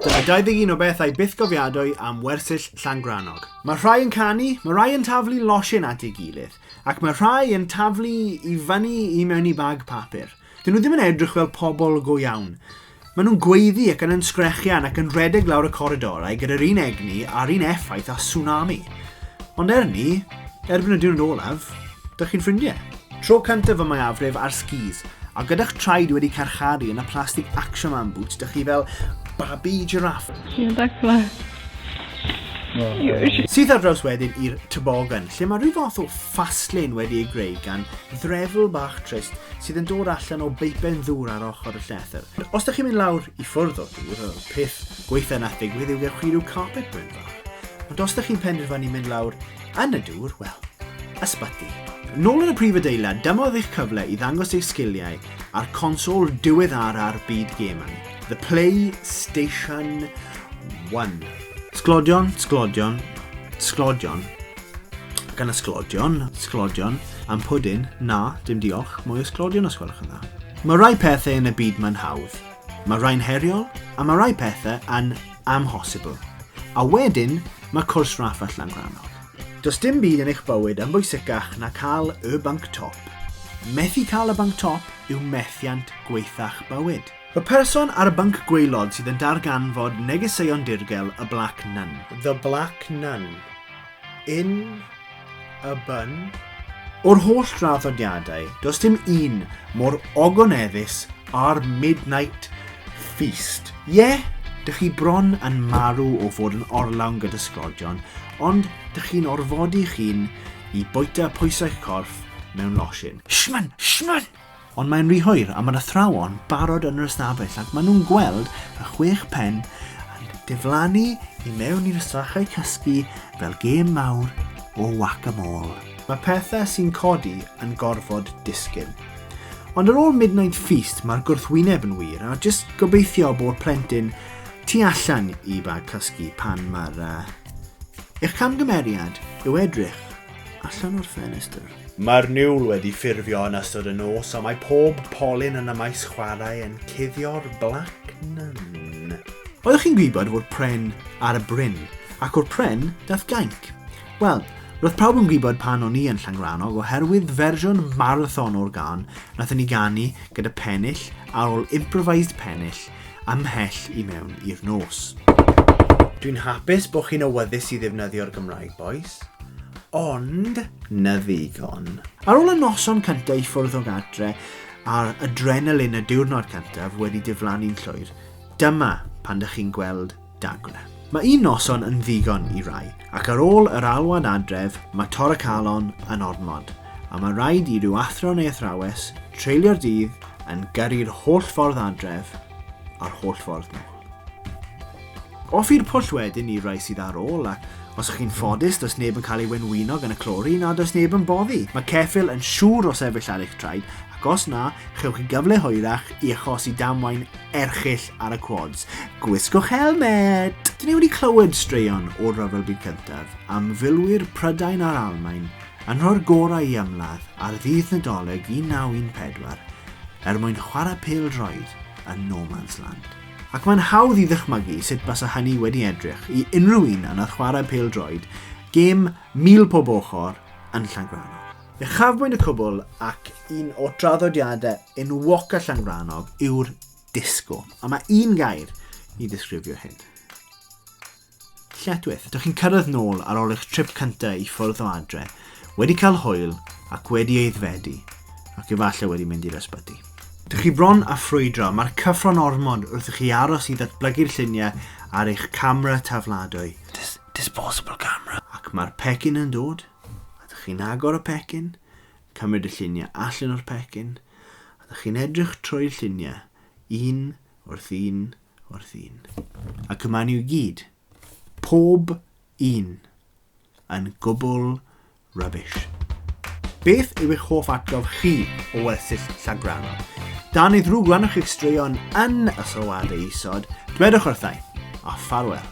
Dyma 21 o bethau bythgofiadwy am wersyll Llangrannog. Mae rhai yn canu, mae rhai yn taflu losin at ei gilydd, ac mae rhai yn taflu i fyny i mewn i bag papur. Dyn nhw ddim yn edrych fel pobl go iawn. Maen nhw'n gweiddi ac yn yn sgrechian ac yn rhedeg lawr y coridorau gyda'r un egni a'r un effaith a tsunami. Ond er ni, erbyn y diwrnod olaf, dych chi'n ffrindiau. Tro cyntaf y mwyafrif ar skis, a gyda'ch traed wedi carcharu yn y plastig Action Man boots, dych chi fel babi giraffe. Ti'n dacla. Syth ar draws wedyn i'r tybogan, lle mae rhyw fath o fastlane wedi ei greu gan ddrefl bach trist sydd yn dod allan o beipen ddŵr ar ochr y llethr. Os ydych chi'n mynd lawr i ffwrdd o'r dŵr, y peth gweitha nath ddigwydd yw gewch chi rhyw carpet bryn fach. Ond os ydych chi'n penderfynu mynd lawr Yn y dŵr, wel, ysbyty. Nôl yn y prif adeilad, dyma oedd eich cyfle i ddangos eich sgiliau ar consol diweddara'r byd gemau, The PlayStation 1. Sglodion, sglodion, sglodion, gan y sglodion, sglodion, am pwdin, na, dim diolch, mwy o sglodion os gwelwch yn dda. Mae rhai pethau yn y byd mae'n hawdd, Mae rhai'n heriol a mae rhai pethau yn amhosibl. A wedyn, mae cwrs raff a llangrannog. Does dim byd yn eich bywyd yn bwysicach na cael y banc top. Methu cael y banc top yw methiant gwaetha'ch bywyd. Y person ar y banc gwaelod sydd yn darganfod negeseuon dirgel y Black Nun. The Black Nun. Yn y bun? O'r holl draddodiadau, does dim un mor ogoneddus â'r Midnight Feast. Ie, dych chi bron yn marw o fod yn orlawn gyda sglodion, ond dych chi'n orfodi'ch hun i bwyta pwysau'ch corff mewn losin. Shman! Shman! Ond mae'n rhy hwyr a mae'r athrawon barod yn yr ystafell ac maen nhw'n gweld y chwech pen yn diflannu i mewn i'r strachau cysgu fel gêm mawr o whack-a-mole. Mae pethau sy'n codi yn gorfod disgyn. Ond ar ôl Midnight Feast mae'r gwrthwyneb yn wir a jyst gobeithio bod plentyn tu allan i bag cysgu pan mae'r uh, eich camgymeriad yw edrych allan o'r ffenestr. Mae'r niwl wedi ffurfio yn ystod y nos a mae pob polyn yn y maes chwarae yn cuddio'r blac nun. Oeddech chi'n gwybod fod pren ar y bryn, ac o'r pren daeth gainc? Wel, roedd pawb yn gwybod pan o'n i yn Llangrannog oherwydd fersiwn marathon o'r gân nathon ni ganu gyda pennill ar ôl improvised pennill ymhell i mewn i'r nos. Dwi'n hapus bod chi'n awyddus i ddefnyddio'r Gymraeg, bois. Ond, na ddigon. Ar ôl y noson cyntaf i ffwrdd o gadre a'r adrenalin y diwrnod cyntaf wedi diflannu'n llwyr, dyma pan dych chi'n gweld Dagwna. Mae un noson yn ddigon i rai, ac ar ôl yr alwad adref, mae Tor y Calon yn ormod, a mae rhaid i ryw athro neu athrawes treulio'r dydd yn gyrru'r holl ffordd adref a'r holl ffordd nôl. Off i'r pwll wedyn i'r rai sydd ar ôl, a os ych chi'n ffodus, does neb yn cael ei wenwyno gan y clori na does neb yn boddi. Mae ceffyl yn siŵr o sefyll ar eich traed, ac os na, chewch chi gyfle hwyrach i achosi damwain erchyll ar y quads. Gwisgwch helmet! Dyn ni wedi clywed straeon o'r Rhyfel Byd Cyntaf am filwyr Prydain a'r Almain yn rhoi'r gorau i ymladd ar ddydd Nadolig 1914 er mwyn chwarae pêl droed yn No Man's Land. Ac mae'n hawdd i ddychmygu sut basa hynny wedi edrych i unrhyw un yna chwarae pêl droed, gêm mil pob ochr yn Llangrannog. Uchafbwynt y cwbl ac un o draddodiadau enwog a llangrannog yw'r disgo. A mae un gair i ddisgrifio hyn. Lletwyth. Dych chi'n cyrraedd nôl ar ôl eich trip cyntaf i ffwrdd o adre, wedi cael hwyl ac wedi eiddfedu, ac efallai wedi mynd i'r ysbyty. Dych chi bron a ffrwydro, mae'r cyffro'n ormod wrth i chi aros i ddatblygu'r lluniau ar eich camera tafladwy. Dis disposable camera. Ac mae'r pecyn yn dod. A dych chi'n agor y pecyn, cymryd y lluniau allan o'r pecyn, a dych chi'n edrych trwy'r lluniau, un wrth un wrth un. Ac yma ni i gyd, pob un, yn gwbl rubbish. Beth yw eich hoff atgof chi o wersyll llagranol? Dan ei ddrwg gwrannwch chi'ch straeon yn y sylwadau isod, dwedwch wrthai, a ffarwel.